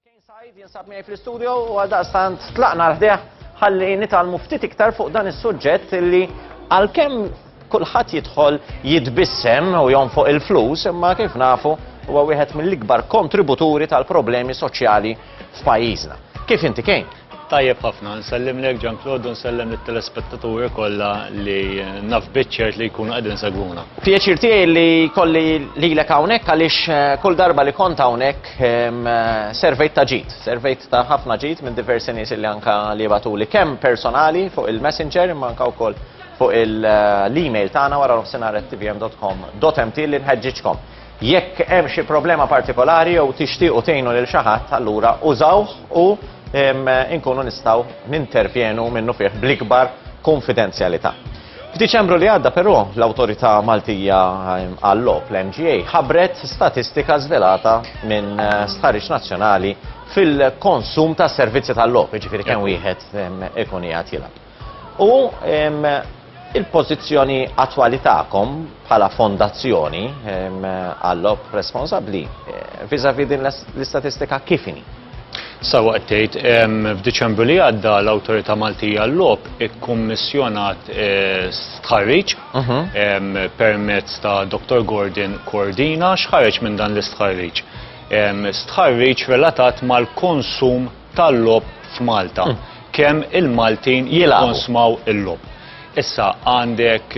Kane Said jinsab miegħi fl-istudio u għal daqstant tlaqna l-ħdeħ ħalli nitalmu ftit iktar fuq dan is-suġġett li għalkemm kulħadd jidħol jitbissem u jonfoq il-flus imma kif nafu huwa wieħed mill-ikbar kontributuri tal-problemi soċjali f'pajjiżna. Kif inti kejn? Tajjeb ħafna, nsellimlek Jean Claude u nsellem lit-telespettaturi kollha li naf biċ-ċert li jkunu qegħdin isegwuna. Pjaċir tiegħi li jkolli lilek hawnhekk għaliex kull darba li kont hawnhekk servejt ta' ġid, servejt ta' ħafna ġid minn diversi nies li anke li jibgħatuli kemm personali fuq il-messenger imma anke wkoll fuq l-email tagħna waranofsinhar@tvm.com.mt li nħeġġiġkom. Jekk hemm xi problema partikolari jew tixtiequ tgħinu lil xi ħadd, allura użawh u inkunu nistgħu nintervjenu minnu fih bl-ikbar kunfidenzjalità. F'Diċembru li għadda però, l-Awtorità Maltija għal-Logħob, l-MGA, ħabbret statistika żvelata minn stħarriġ nazzjonali fil-konsum ta' servizzi tal-logħob, jiġifieri kemm wieħed ikun qiegħed jilgħab. U il-pożizzjoni attwali tagħkom bħala fondazzjoni għall-lob responsabbli viżavi din l-istatistika kif inhi? Sawa qed tgħid, f'Diċembru li għadda l-Awtorità Maltija l-Logħob ikkummissjonat eh, stħarriġ mhm. permezz ta' Dr. Gordon Cordina x'ħareġ minn dan l-istħarriġ. Stħarriġ relatat mal-konsum tal-logħob f'Malta. Kemm il-Maltin jikkonsmaw il-logħob. Issa għandek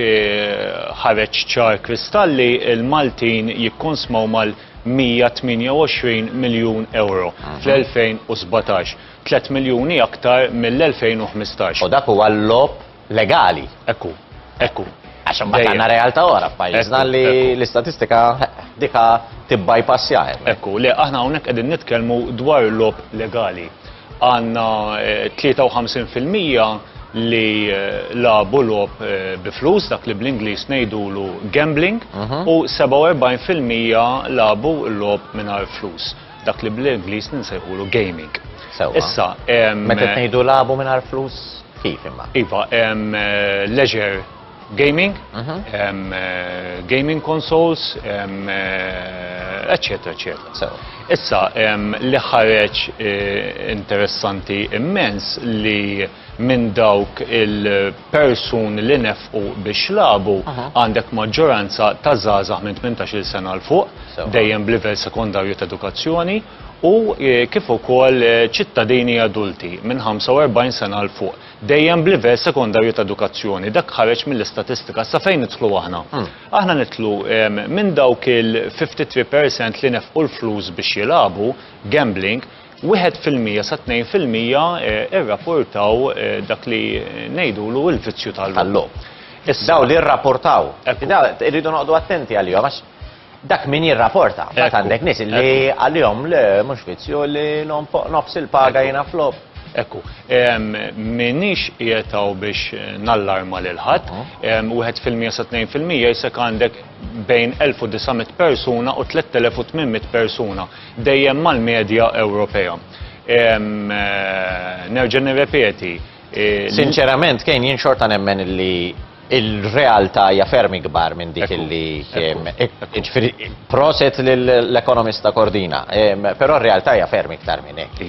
ħareġ ċar kristall li l-Maltin jikkonsmaw mal-128 miljun ewro fl-2017, tliet miljuni aktar mill-2015. U dak huwa l-logħob? legali, hekk hu, hekk hu. Għax imbagħad għandna realtà oħra f'pajjiżna li l-istatistika dika tibbajpassja hemm. Hekk hu, le aħna hawnhekk qegħdin nitkellmu dwar lob legali. Għandna 53% li labu lob bi flus dak li bl-Ingliż ngħidulu gambling u 47% labu lob mingħajr flus. Dak li bl-Ingliż min se jqulu gaming. Sewwa. Issa, em, Meta qed ngħidu lagħbu mingħajr flus kif imma? Iva, em, eh, leisure gaming, Mhm. em, eh, gaming consoles, em, eh, eccetera, eccetera. Sewwa. Issa, em, li ħareġ eh, interessanti immens li minn dawk il-persuni li nefqu biex lagħbu, għandek maġġoranza ta' żgħażagħ minn 18-il sena 'l fuq, dejjem b'livell sekondarju ta' edukazzjoni, u kif ukoll ċittadini adulti minn 45 sena 'l fuq, dejjem b'livell sekondarju ta' edukazzjoni. Dak ħareġ mill-istatistika. Sa fejn nidħlu aħna? Aħna nidħlu minn dawk il-53 percent li nefqu l-flus biex jilagħbu, gambling, Wieħed fil-mija sa tnejn fil-mija irrapportaw dak li ngħidulu il-vizzju tal-logħob. Dawn li jirrapportaw. Irridu noqogħdu attenti għalihom għax dak min jirrapporta. Mbagħad għandek nies li għalihom le mhux vizzju li nonfoq nofs il-paga jiena f'logħob. Ekku, m'iniex qiegħed hawn biex nallarma lil ħadd. Wieħed fil-mija sa tnejn fil-mija jisek għandek bejn 1900 persuna u 3800 persuna. dejjem mal-medja Ewropea. Nerġa' nirrepeti. Sinċerament, Kane, jien xorta nemmen li il-realtà hija ferm ikbar minn dik li proset lill-ekonomista Cordina. Però r-realtà hija ferm iktar minn hekk.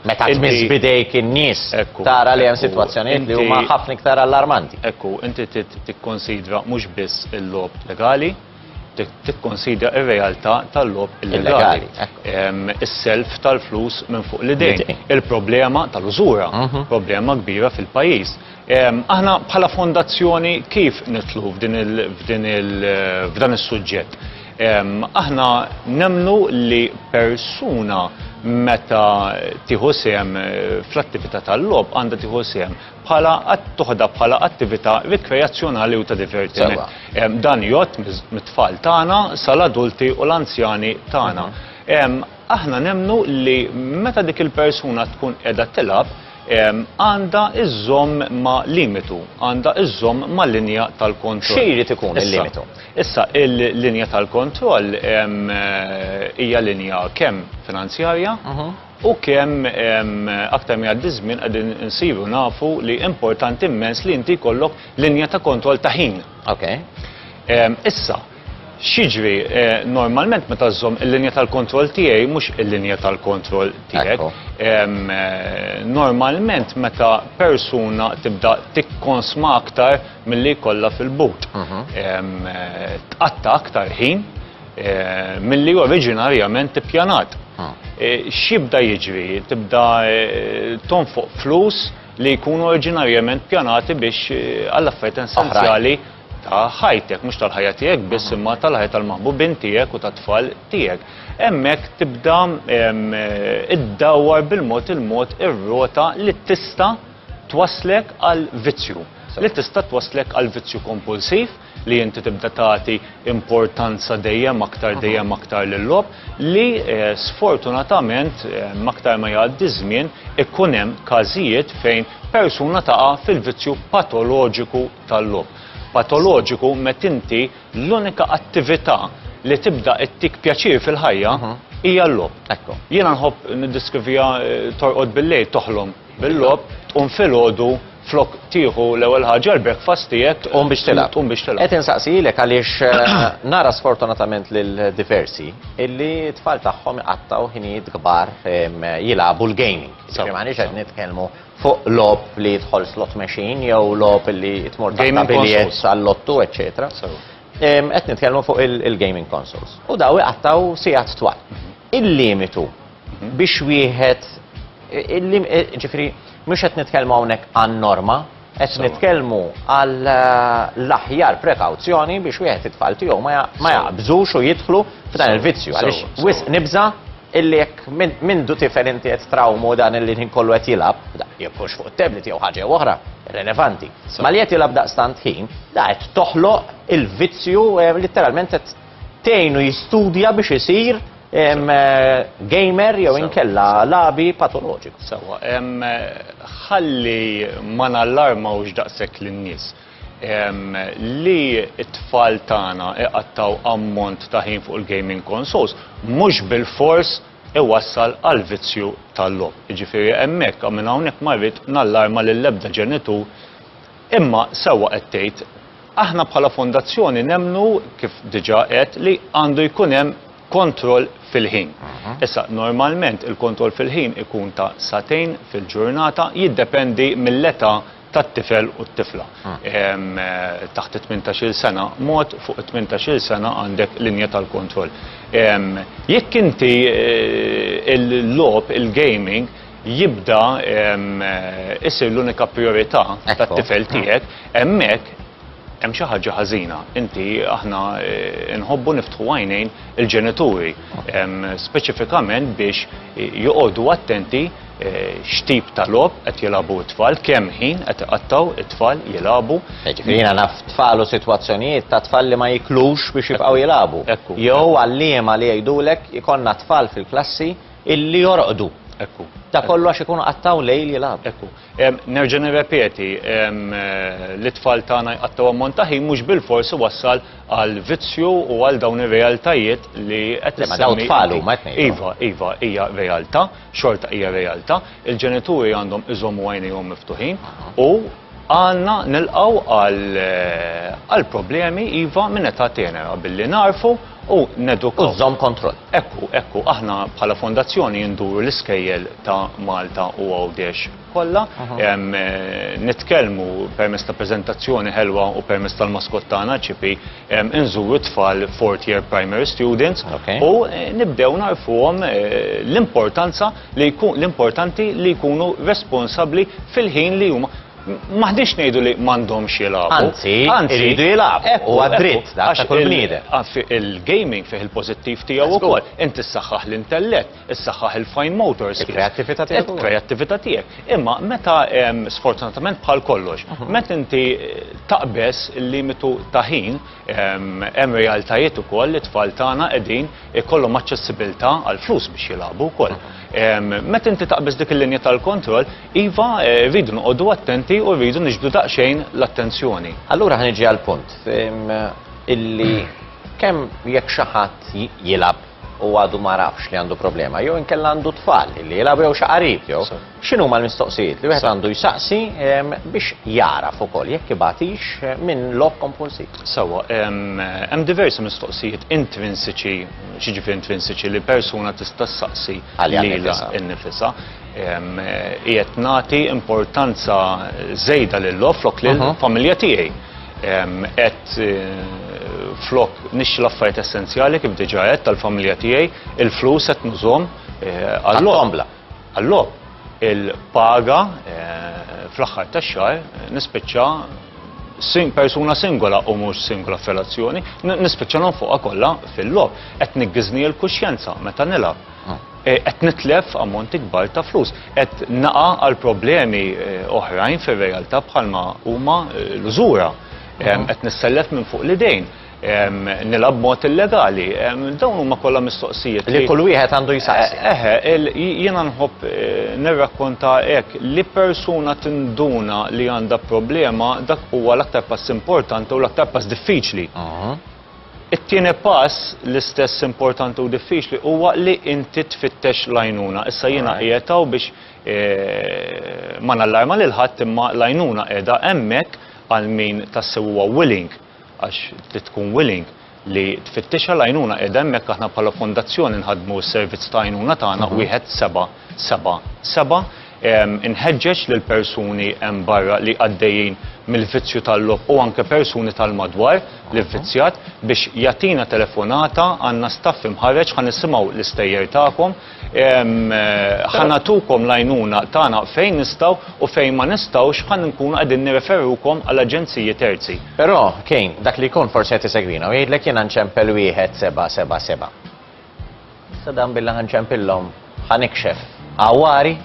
Meta tmiss b'idejk in-nies tara li hemm sitwazzjonijiet li huma ħafna iktar allarmanti. Ekku, inti tikkunsidra mhux biss il-logħob legali, tikkonsidra r-realtà tal-logħob illegali. Is-self tal-flus minn fuq l-idejn. Il-problema tal-użura, mhm. problema kbira fil-pajjiż. Aħna bħala fondazzjoni kif nitlu f'dan is-suġġett? Aħna nemnu li persuna meta tieħu sehem fl-attività tal-logħob għandha tieħu sehem bħala tuħda bħala attività rikreazzjonali u ta' divertiment. Dan jott mit-tfal tagħna sal-adulti u l-anzjani tagħna. Mhm. Aħna nemnu li meta dik il-persuna tkun qiegħda tilab, għanda iżżomm ma limitu, għanda iżżomm ma linja tal-kontroll. Xiri tikun il-limitu? Issa, il-linja tal-kontroll hija linja kemm finanzjarja, mhm. U kemm aktar ma jgħaddi ż-żmien qegħdin insiru nafu li importanti immens li inti jkollok linja ta' kontroll ta' ħin. Okay. Issa, x'jiġri normalment meta żżomm il-linja tal-kontroll tiegħi mhux il-linja tal-kontroll tiegħek. Normalment meta persuna tibda tikkonsma aktar milli jkollha fil-but. Tqatta' aktar ħin. milli oriġinarjament ippjanat. X'jibda jiġri? Tibda tonfoq flus li jkunu oriġinarjament pjanati biex għall-affarijiet essenzjali ta' ħajtek, mhux tal-ħajja tiegħek biss imma tal-ħajja tal-maħbubin tiegħek u tat-tfal tiegħek. Hemmhekk tibda iddawwar bil-mod il-mod ir-rota li tista' twasslek għal vizzju, li tista' twasslek għal vizzju kompulsiv, li inti tibda tagħti importanza dejjem aktar dejjem aktar lill-lob li eh, sfortunatament eh, aktar ma jgħaddi żmien ikun hemm każijiet fejn persuna taqa' fil-vizzju patoloġiku tal-lob. Patoloġiku met inti l-unika attività li tibda ittik pjaċir fil-ħajja mhm. hija l-lob. Jiena nħobb niddiskriviha eh, torqod bil-lejl toħlom bil-logħob tqum filgħodu flok tieħu l-ewwel ħaġa l-breakfast tiegħek tqum biex tilgħab. Tqum biex tilgħab. Qed insaqsilek għaliex eh, nara sfortunatament lil diversi illi tfal tagħhom iqattgħu ħinijiet kbar jilagħbu l-gaming. Ġifieri m'għandix qed nitkellmu fuq lob li jidħol slot machine jew lob li tmur ta' biljet għall-lottu, eċċetera. Qed nitkellmu fuq il-gaming consoles. U daw iqattgħu sigħat twal. Mhm. Il-limitu biex wieħed ġifri mhux qed nitkellmu hawnhekk għan-norma, qed nitkellmu għal eh, l-aħjar prekawzjoni biex wieħed it-tfal tiegħu ma jaqbżux u jidħlu f'dan il-vizzju għaliex wisq nibża' illi jekk minn du tifel inti qed trawmu dan illi ħin kollu qed jilab, jekkux fuq it-tablet jew ħaġa oħra, relevanti. Ma li qed jilab daqstant ħin, da qed toħloq il-vizzju eh, letteralment qed tgħinu jistudja biex isir gamer jew inkella labi patoloġiku. Sewwa, ħalli ma nallarmawx daqshekk lin-nies. Li t-tfal tagħna iqattgħu ammont ta' ħin fuq il-gaming consoles mhux bilfors iwassal għall-vizzju tal-logħob. Jiġifieri hemmhekk u minn hawnhekk ma rrid nallarma lil ebda ġenitur. Imma sewwa qed tgħid, Aħna bħala fondazzjoni nemmnu, kif diġà għedt, li għandu jkun hemm kontroll fil-ħin. Issa, normalment il-kontroll fil-ħin ikun ta' sagħtejn fil-ġurnata, jiddependi mill-età tat-tifel u t-tifla. Taħt it-tmintax-il sena mod, fuq it-tmintax-il sena għandek linja tal-kontroll. Jekk inti l-logħob, il-gaming, jibda isir l-unika prijorità tat-tifel tiegħek, hemmhekk hemm xi ħaġa ħażina. Inti aħna nħobbu niftħu għajnejn il-ġenituri, speċifikament biex joqogħdu attenti x'tip ta' logħob qed jilagħbu t-tfal, kemm ħin qed iqattgħu t-tfal jilagħbu. Jiġifieri jiena naf tfal u sitwazzjonijiet ta' tfal li ma jiklux biex jibqgħu jilagħbu. Jew għalliema li jgħidulek ikollna tfal fil-klassi Illi jorqdu. Ekku. Ta' kollu għax ikunu qattaw lejl jilgħabu. Ekku. Nerġa' nirrepeti, l-itfal tagħna jqattgħu ammont ta' ħin mhux bilfors iwassal għal vizzju u għal dawn ir-realtajiet li qed issemmi. Ma dawn tfal huma qed ngħidlhom. Iva, iva, hija realtà, xorta hija realtà. Il-ġenituri għandhom iżommu għajnejhom miftuħin u Għandna nilqgħu għal problemi iva minn età tenera billi nagħrfu u nedukaw. U żżomm kontroll. Ekku, ekku, aħna bħala fondazzjoni induru l-iskejjel ta' Malta u Għawdex kollha, nitkellmu permezz ta' preżentazzjoni ħelwa u permezz tal-maskott tagħna, Chippy, inżuru t-tfal fourth year primary students u nibdew nagħrfuhom l-importanza li jkun l-importanti li jkunu responsabbli fil-ħin li huma Maħdix ngħidu li m'għandhomx jilagħbu. Anzi, iridu jilagħbu. U għad-dritt ta' kull bniedem. Il-gaming fih il-pożittiv tiegħu wkoll. Inti ssaħħaħ l-intellett, issaħħaħ il-fine motor skills. Il-kreattività tiegħek. Il-kreattività tiegħek. Imma meta sfortunatament bħal kollox, meta inti taqbeż il-limitu ta' ħin, Hemm realtajiet ukoll li t-tfal tagħna qegħdin ikollhom aċċessibilità għal flus biex jilagħbu wkoll. Meta inti taqbeż dik il-linja tal-kontroll, iva rridu noqogħdu attenti u rridu niġbdu daqsxejn l-attenzjoni. Allura ħa niġi għall-punt illi kemm jekk xi ħadd jilgħab u għadu ma għarafx li għandu problema jew inkella għandu t-tfal illi jilgħabu jew xi qarib jew, X'inhuma l-mistoqsijiet li wieħed għandu jsaqsi biex jagħraf ukoll jekk ibagħtix eh, minn logħob kompulsiv? Sewwa, hemm diversi mistoqsijiet intrinsiċi, xiġifieri intrinsiċi li persuna tista' ssaqsi lilha innifisha. Qiegħed nagħti importanza żejda lil logħob flok lil mhm. familja tiegħi. Qed eh, flok nixxi l-affarijiet essenzjali kif diġà qed tal-familja tiegħi, il-flus qed nużhom eh, għall-ombla. Allok il-paga fl-aħħar tax-xahar nispiċċa sing persuna singola u mhux singola f'relazzjoni, n- nispiċċa nonfoqha kollha fil-logħob. Qed niggiżni l-kuxjenza meta nilgħab. Eh, Qed nitlef ammonti kbar ta' flus, qed naqa' għal problemi eh, oħrajn fir-realtà bħalma huma eh, l-użura. Em, Qed nissellef minn fuq l-idejn. nilgħab b'mod illegali. Dawn huma kollha mistoqsijiet li kull wieħed għandu jsaqsi. Eħe, jiena nħobb eh, nirrakkonta hekk li persuna tinduna li għandha problema dak huwa l-aktar pass importanti u l-aktar pass diffiċli. It-tieni pass l-istess importanti u diffiċli huwa li inti tfittex lajnuna. Issa jiena qiegħtaw biex eh, ma nallarma lil ħadd imma lajnuna qiegħda hemmhekk għal min tassew huwa willing għax trid tkun willing li tfittixha l-għajnuna qiegħda hemmhekk aħna bħala fondazzjoni nħaddmu s-servizz ta' għajnuna tagħna wieħed seba' seba' seba' inħeġġeġ lil persuni hemm barra li għaddejjin mill-vizzju tal-logħob u anke persuni tal-madwar li vvizzjat biex jagħtina telefonata għandna staff imħarreġ ħa nisimgħu l-istejjer tagħkom Ħa nagħtukom l-għajnuna tagħna fejn nistgħu u fejn ma nistgħux ħa nkunu qegħdin nirreferukom għal aġenziji terzi. Però, Kane, dak li jkun forsi qed isegwina u jgħidlek jiena nċempel wieħed seba' seba' seba'. Issa dan billi ħa nċempillhom ħa nikxef għawari?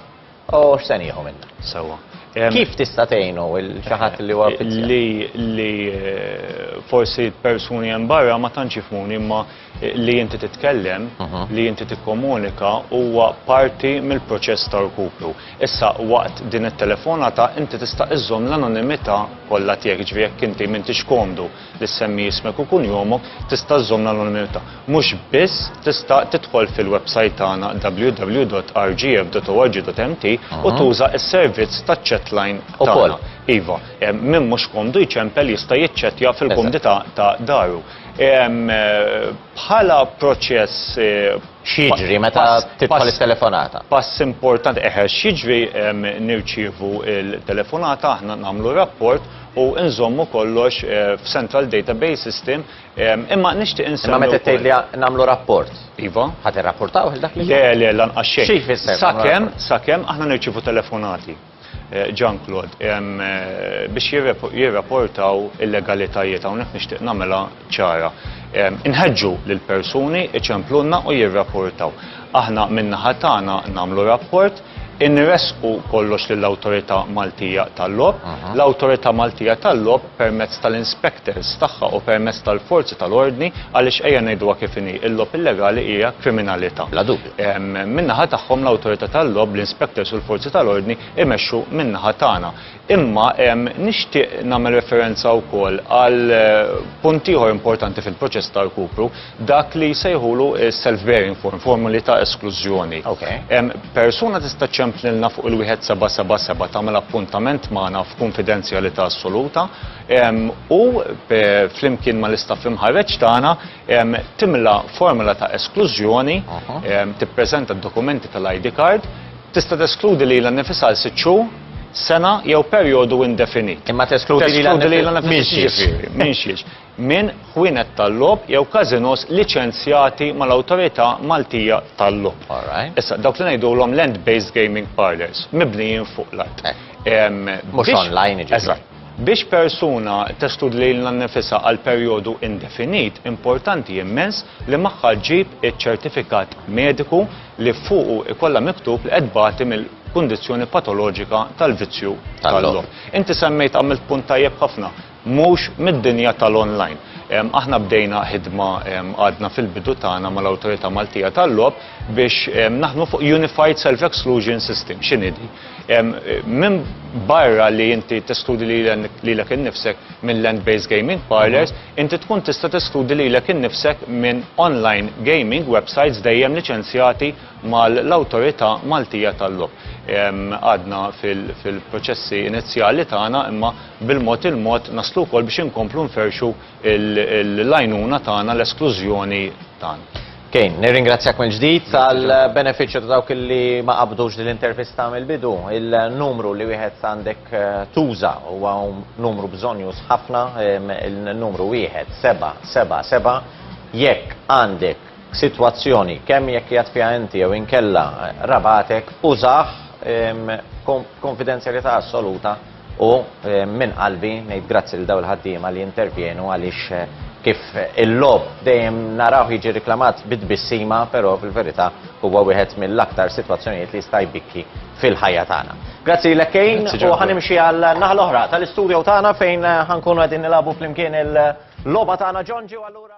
U x'se nieħu minna? Sewwa. Kif tista' tgħinu xi ħadd li huwa fizzjat? Li li eh, forsi persuni hemm barra ma tantx jifmuni imma eh, li inti titkellem, mhm. li inti tikkomunika huwa parti mill-proċess ta' rkupru. Issa waqt din it-telefonata inti tista' iżżomm l-anonimità kollha tiegħek ġifieri jekk inti m'intix komdu li ssemmi ismek u kunjomok tista' żżomm l-anonimità. Mhux biss, tista' tidħol fil-websajt tagħna www.rgf.org.mt u tuża s-servizz taċ-chatline tagħna. Iva, min mhux komdu jċempel jista' jiċċettja fil-kumdità ta' daru. Bħala proċess X'jiġri meta tidħol it-telefonata? Pass importanti, eħe, x'jiġri nirċievu l-telefonata, aħna nagħmlu rapport u nżommu kollox f'central database system, imma nixtieq insemmi. Imma meta tgħidli nagħmlu rapport? Iva. Ħa tirrapportawh il-dak li. Le, le, lanqas xejn. Xi jfisser? Sakemm, sakemm aħna nirċievu telefonati. Jean-Claude, biex jirrapportaw illegalitajiet, hawnhekk nixtieq nagħmilha ċara. Inħeġġu lill-persuni jċemplulna u jirrapportaw. Aħna min-naħa tagħna nagħmlu rapport, inressqu kollox lill-Awtorità Maltija tal-Logħob. L-Awtorità Maltija tal-Logħob permezz tal-inspectors tagħha u permezz tal-forzi tal-ordni, għaliex ejja ngħiduha kif inhi, il-logħob illegali hija kriminalità. Min-naħa tagħhom l-Awtorità tal-Logħob, l-inspectors u l-forzi tal-ordni imexxu min-naħa tagħna. Imma nixtieq nagħmel referenza wkoll għal punt ieħor importanti fil-proċess ta' rkupru, dak li jsejħulu self-bearing form, formuli ta' esklużjoni. Persuna tista' ċċemplilna fuq il-wieħed 777 tagħmel appuntament magħna f'kunfidenzjalità assoluta u flimkien mal-istaff imħarreġ tagħna, Timla formola ta' esklużjoni, tippreżenta d-dokumenti tal-ID card, tista' teskludi lilha nnifisha għal sitt xhur, sena jew perjodu indefinit. Imma teskludi lilha nnifisha minxiex. Minn ħwienet tal-logħob jew każinos liċenzjati mal-Awtorità Maltija tal-Logħob. Issa, dawk li ngħidulhom land-based gaming parlours, mibnijin fuq l-art. Mhux online jiġifieri. Biex persuna testudi lilha nnifisha għal perjodu indefinit, importanti immens li magħha ġġib iċ-ċertifikat mediku li fuqu jkollha miktub li qed tbati mill-kundizzjoni patoloġika tal-vizzju tal-logħob. Inti semmejt, għamilt punt tajjeb ħafna, mhux mid-dinja tal-online. Aħna bdejna ħidma għadna fil-bidu tagħna mal-Awtorità Maltija tal-Logħob biex naħdmu fuq Unified Self-Exclusion System. X'inhi din? Minn barra li inti teskludi lilek innifsek minn land-based gaming parlors, inti tkun tista' teskludi lilek innifsek minn online gaming websites dejjem liċenzjati mal-Awtorità Maltija tal-Logħob. Għadna fil-proċessi inizjali tagħna imma bil-mod il-mod naslu wkoll biex inkomplu nferrxu l-għajnuna tagħna, l-esklużjoni tagħna. Kane, nirringrazzjak mill-ġdid tal-benefiċċju ta' dawk li ma qabdux din l-intervista mill-bidu. Il-numru li wieħed għandek tuża huwa numru bżonjuż ħafna, il-numru wieħed seba' seba' seba' jekk għandek sitwazzjoni kemm jekk qiegħed fiha inti jew inkella rabagħtek użah b'konfidenzjalità assoluta U minn qalbi ngħid grazzi lil dawn il-ħaddiema li jintervjenu għaliex kif il-logħob dejjem narawh jiġi riklamat bi tbissima, però fil-verità huwa wieħed mill-aktar sitwazzjonijiet li jista' jbikki fil-ħajja tagħna. Grazzi lilek Kane u ħanimxi għal naħa l-oħra tal-istudio tagħna fejn ħankunu qegħdin nilagħbu flimkien il-logħba tagħna Ġonġi u allura